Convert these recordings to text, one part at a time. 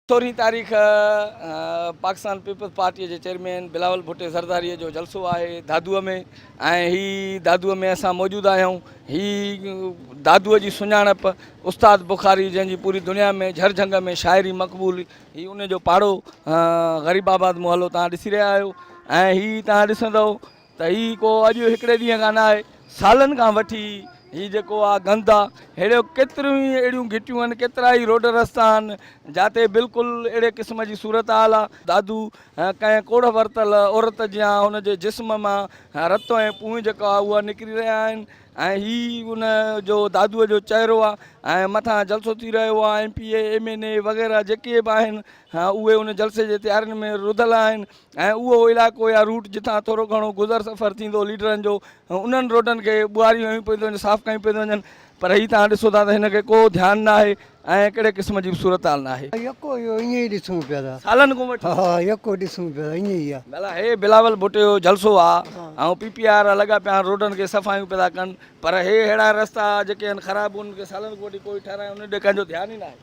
سورهين تاريخ پاڪستان پيپلز پارٽيء جي چيئرمين بلاول ڀٽي زرداريء جو جلسو آهي دادوء ۾ ۽ هي دادوء ۾ اسان موجود آهيون هي دادوء جي سڃاڻپ استاد بخاري جنهن جي پوري دنيا ۾ جھر جھنگ ۾ شاعري مقبول هي ان جو پاڙو غريب آباد محلو تان ڏسي رهيا آهيو ۽ هي تان ڏسندو ته هي ڪو اڄ هڪڙي ڏينهن کان نه آهي سالن کان وٺي هي جيڪو آ گند آ ههڙيو ڪيتريون ئي اهڙيون گهٽيون آهن ڪيترا ئي روڊ رستا آهن جاتي بلڪل اهڙي قسم جي صورت حال آ. دادو ڪنهن ڪوڙهه ورتل عورت جيان هن جي جسم مان رت ۽ پونء جيڪا آ اها نڪري رهيا آهن ۽ هي ان جو دادوء جو چهرو آ ۽ مٿان جلسو ٿي رهيو آ M P A M N A وغيره جيڪي به آهن اهي ان جلسي جي تيارين ۾ رڌل آهن. ۽ اهو علائقو يا روٽ جتان ٿورو گهڻو گذر سفر ٿيندو ليڊرن جو انهن روڊن کي ٻوهاريون هيون پيون ٿيون وڃن صاف ڪيون پيون ٿيون وڃن پر هي توهان ڏسو ٿا ته هن کي ڪو ڌيان ناهي ۽ ڪهڙي قسم جي به صورتحال ناهي. يڪو اهو ائين ئي ڏسون پيا ٿا. سالن کان وٺي. ها يڪو ڏسون پيا ٿا ائين ئي آ. ڀلا هي بلاول ڀٽو جو جلسو آ ۽ پي پي آر لڳا پيا آهن روڊن کي صفايون پيا ٿا ڪن پر هي ههڙا رستا جيڪي آهن خراب انهن کي سالن کان وٺي ڪوئي ٺهرايو انهن ڏي ڪنهن جو ڌيان ئي ناهي.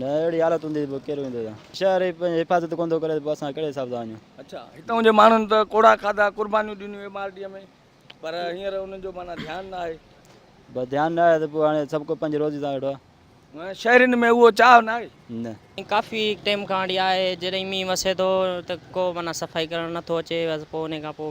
نه اهڙي حالت هوندي ته پوء ڪير ويندو هتان. شهر ئي پنهنجي حفاظت ڪونه ٿو ڪري ته پوء اسان ڪهڙي حساب سان وڃون. اڇا هتئون جي ماڻهن ته ڪوڙها کاڌا قربانيون ڏنيون ايم آر ڊي ۾ پر هينئر انهن جو معنيٰ ڌيان نه آهي. بس ڌيان نه آهي ته پوء هاڻي سڀ ڪو پنهنجي روزي سان ويٺو آهي. شهرين ۾ اهو چاهه نه آهي. نه. ڪافي ٽيم کان اهڙي آهي جڏهن مينهن وسي ٿو ته ڪو معنيٰ صفائي ڪرڻ نه ٿو اچي بس پوء انهي کان پوء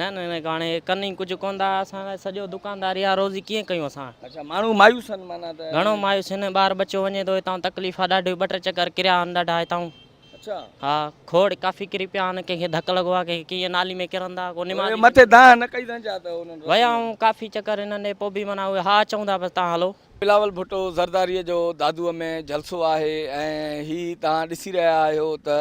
نه نه ڪاڻي ڪن ئي ڪجهه ڪون ٿا اسان لاء سڄو دڪانداري آ روزي ڪيئن ڪيون اسان اچھا ماڻهو مايوس آهن معنيٰ ته گهڻو مايوس آهن ٻار ٻچو وڃي ٿو هتان تڪليف آ ڏاڍي ٻه ٽي چڪر ڪريا آهن ڏاڍا هتان اچھا ها کوڙ ڪافي ڪري پيا آهن ڪنهن کي ڌڪ لڳو آ ڪنهن کي ڪيئن نالي ۾ ڪرن ٿا ڪو نماز مٿي دانهن نه ڪئي سانجا ته انهن ويا آهيون ڪافي چڪر هنن ڏي پوء به معنيٰ اهي ها چئون ٿا بس تان هلو. بلاول ڀٽو زرداري جو دادوء ۾ جلسو آهي ۽ هي توهان ڏسي رهيا آهيو ته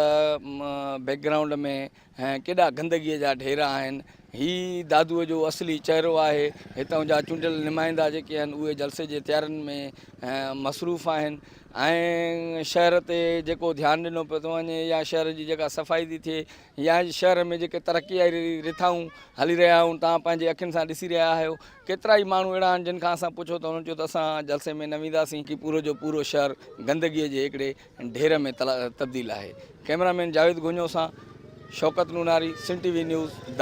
بيڪ گرائونڊ ۾ ۽ ڪيڏا گندگيء جا ڍير آهن. هي ئي دادوء جو اصلي چهرو آهي. هتان جا چونڊيل نمائندا جيڪي آهن اهي جلسي جي تيارين ۾ مصروف آهن ۽ شهر تي جيڪو ڌيان ڏنو پيو ٿو وڃي يا شهر جي جيڪا صفائي ٿي ٿئي يا شهر ۾ جيڪي ترقيائي رٿائون هلي رهيا آهيون توهان پنهنجي اکين سان ڏسي رهيا آهيو ڪيترا ئي ماڻهو اهڙا آهن جن کان اسان پڇو ته هن چيو ته اسان جلسي ۾ نه وينداسين. پورو جو پورو شهر گندگيء جي هڪڙي ڍير ۾ تبديل آهي. ڪئميرا مين جاويد گونيو سان شوڪت نوناري Sindh T V news Dadu.